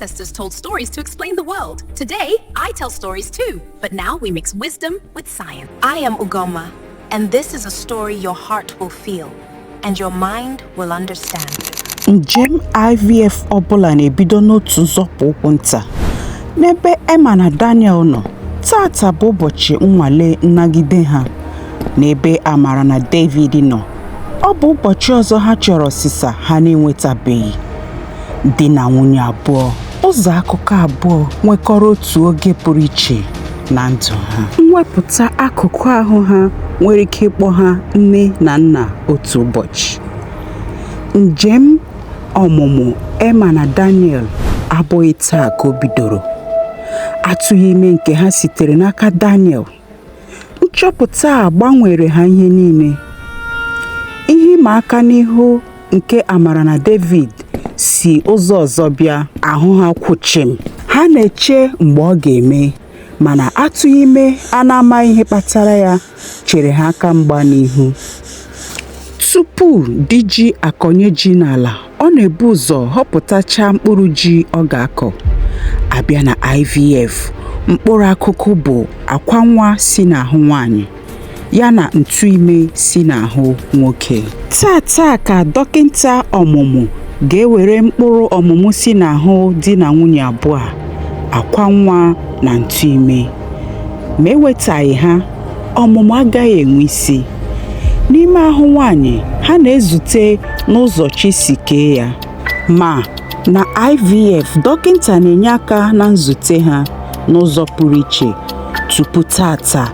ancestors told stories to explain the world. Today, I tell stories too, but now we mix wisdom with science. I am Ugoma, and this is a story your heart will feel and your mind will understand. Njem IVF ọbụla na-ebido n'otu nzọpụ ụkwụ nta. N'ebe Emma na Daniel nọ, tata bụ ụbọchị nnwale nnagide ha. N'ebe Amara na David nọ, ọ bụ ụbọchị ọzọ ha chọrọ ọsịsa ha na-enwetabeghị di na nwunye abụọ ụzọ akụkọ abụọ nwekọrọ otu oge pụrụ iche na ndụ ha mwepụta akụkụ ahụ ha nwere ike ịkpọ ha nne na nna otu ụbọchị njem ọmụmụ Emma na Daniel abụghị taa ka o bidoro atụghị ime nke ha sitere n'aka Daniel Nchọpụta a gbanweere ha ihe niile. Ihe ịma aka n'ihu nke Amara na David si ụzọ ọzọ bịa. Ahụ ha kwụ chịm. Ha na-eche mgbe ọ ga-eme, mana atụghị ime a na-amaghị ihe kpatara ya chere ha aka mgba n'ihu. Tupu di ji akọnye ji n'ala, ọ na-ebu ụzọ họpụtacha mkpụrụ ji ọ ga-akọ a bịa na IVF mkpụrụ akụkụ bụ akwa nwa si n'ahụ nwanyị ya na ntụ ime si n'ahụ nwoke tata ka dọkịta ọmụmụ ga-ewere mkpụrụ ọmụmụ si n'ahụ di na nwunye abụọ a akwa nwa na ntụ ime ma e wetaghị ha ọmụmụ agaghị enwe isi n'ime ahụ nwanyị ha na-ezute n'ụzọ chi si kee ya ma na IVF dọkịta na-enye aka na nzute ha n'ụzọ pụrụ iche tupu tata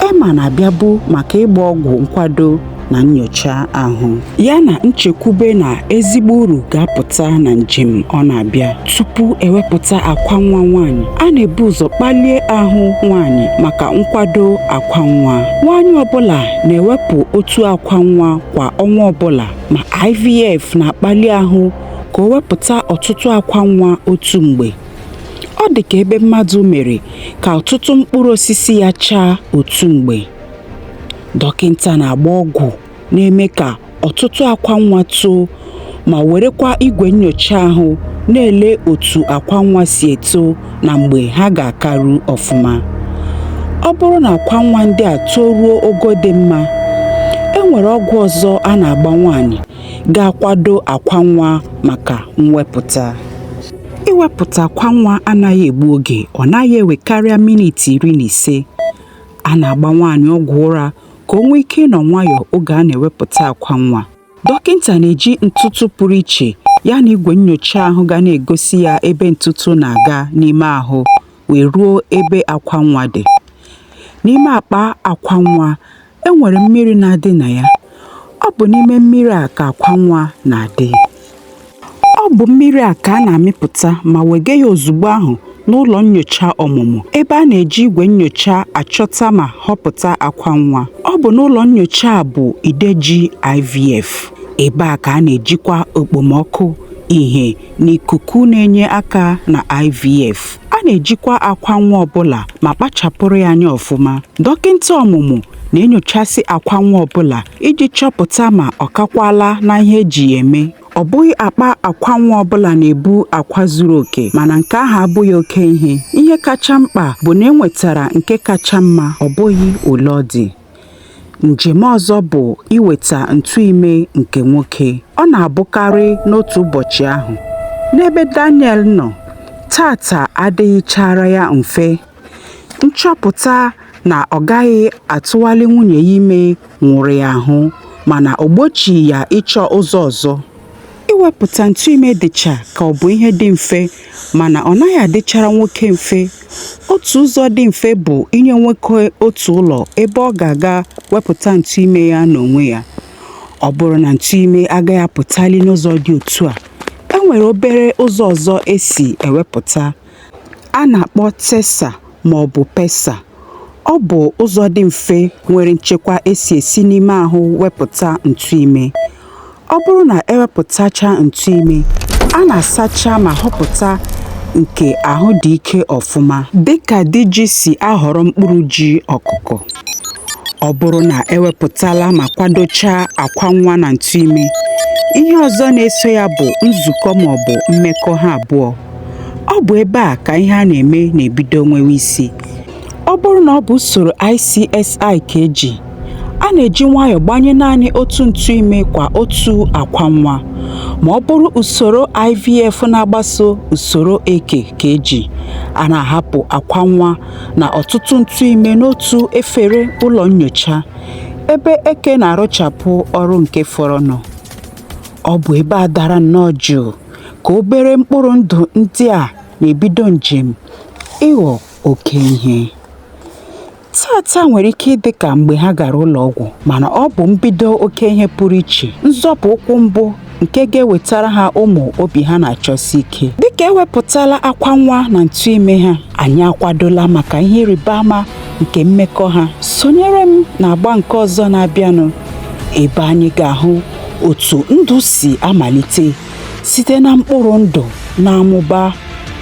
Emma na-abịabu maka ịgba ọgwụ nkwado na nyocha ahụ ya na nchekwube na ezigbo uru ga-apụta na njem ọ na-abịa tupu e wepụta akwa nwa nwaanyị a na-ebu ụzọ kpalie ahụ nwaanyị maka nkwado akwa nwa nwaanyị ọbụla na-ewepụ otu akwa nwa kwa ọnwa ọbụla ma IVF na-akpali ahụ ka o wepụta ọtụtụ akwa nwa otu mgbe ọ dị ka ebe mmadụ mere ka ọtụtụ mkpụrụ osisi ya chaa otu mgbe Dọkịta na-agba ọgwụ na-eme ka ọtụtụ akwa nwa too ma werekwa igwe nnyocha ahụ na-ele otu akwa nwa si eto na mgbe ha ga-akaru ọfụma. Ọ bụrụ na akwa nwa ndị a toruo ogo dị mma, e nwere ọgwụ ọzọ a na-agba nwaanyị ga-akwado akwa nwa maka mwepụta. Iwepụta akwa nwa anaghị egbu oge, ọ naghị ewekarịa minit iri na ise. A na-agba nwaanyị ọgwụ ụra ka o nwee ike ịnọ nwayọọ oge a na-ewepụta akwa nwa. Dọkịta na-eji ntụtụ pụrụ iche ya na igwe nnyocha ahụ ga na-egosi ya ebe ntụtụ na-aga n'ime ahụ wee ruo ebe akwa nwa dị. N'ime akpa akwa nwa, e nwere mmiri na-adị na ya. Ọ bụ n'ime mmiri a ka akwa nwa na-adị. Ọ bụ mmiri a ka a na-amịpụta ma wega ya ozugbo ahụ n'ụlọ nyocha ọmụmụ ebe a na-eji igwe nyocha achọta ma họpụta akwa nwa. Ọ bụ n'ụlọ nyocha a bụ ide ji IVF. Ebe a ka a na-ejikwa okpomọkụ, ihe na ikuku na-enye aka na IVF. A na-ejikwa akwa nwa ọbụla ma kpachapụrụ ya anya ọfụma. Dọkịta ọmụmụ na-enyochasị akwa nwa ọbụla iji chọpụta ma ọ kakwaala na ihe e ji ya eme. Ọ bụghị akpa akwa nwa ọbụla na-ebu akwa zuru oke, mana nke ahụ abụghị oke ihe. Ihe kacha mkpa bụ na e nwetara nke kacha mma, ọ bụghị ole ọ dị. Njem ọzọ bụ iweta ntụ ime nke nwoke. Ọ na-abụkarị n'otu ụbọchị ahụ. N'ebe Daniel nọ, taata adịghịchaara ya mfe. Nchọpụta na ọ gaghị atụwali nwunye ya ime nwụrụ ya ahụ mana o gbochighị ya ịchọ ụzọ ọzọ. Iwepụta ntụ ime dịcha ka ọ bụ ihe dị mfe mana ọ naghị adịchara nwoke mfe. Otu ụzọ dị mfe bụ inye nwoke otu ụlọ ebe ọ ga-aga wepụta ntụ ime ya n'onwe ya. Ọ bụrụ na ntụ ime agaghị apụtali n'ụzọ dị otu a, e nwere obere ụzọ ọzọ e si ewepụta. A na-akpọ TESA ma ọ bụ PESA. Ọ bụ ụzọ dị mfe nwere nchekwa e si esi n'ime ahụ wepụta ntụ ime. Ọ bụrụ na e wepụtachaa ntụ ime, a na-asacha ma họpụta nke ahụ dị ike ọfụma. Dịka di ji si ahọrọ mkpụrụ ji ọkụkụ. Ọ bụrụ na e wepụtala ma kwadochaa akwa nwa na ntụ ime, ihe ọzọ na-eso ya bụ nzukọ ma ọ bụ mmekọ ha abụọ. ọ bụ ebe a ka ihe a na-eme na-ebido nwewe isi ọ bụrụ na ọ bụ usoro ICSI ka e ji a na-eji nwayọọ gbanye naanị otu ntụ ime kwa otu akwa nwa ma ọ bụrụ usoro IVF na-agbaso usoro eke ka e ji a na-ahapụ akwa nwa na ọtụtụ ntụ ime n'otu efere ụlọ nyocha ebe eke na-arụchapụ ọrụ nke fọrọnụ ọ bụ ebe a dara nnọọ jụụ ka obere mkpụrụ ndụ ndị a na-ebido njem ịghọ oke ihe. Taa taa nwere ike ịdị ka mgbe ha gara ụlọ ọgwụ mana ọ bụ mbido oke ihe pụrụ iche, nzọpụ ụkwụ mbụ nke ga-ewetara ha ụmụ obi ha na-achọsi ike. Dịka e wepụtala akwa nwa na ntụ ime ha, anyị akwadola maka ihe ịrịba ama nke mmekọ ha. Sonyere m n'agba nke ọzọ na-abịanụ ebe anyị ga-ahụ otu ndụ si amalite site na mkpụrụ ndụ na-amụba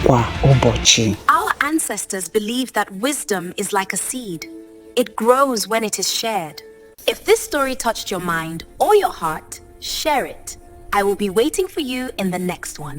kwa ụbọchị Our ancestors believed that wisdom is like a seed. It grows when it is shared. If this story touched your mind or your heart, share it. I will be waiting for you in the next one.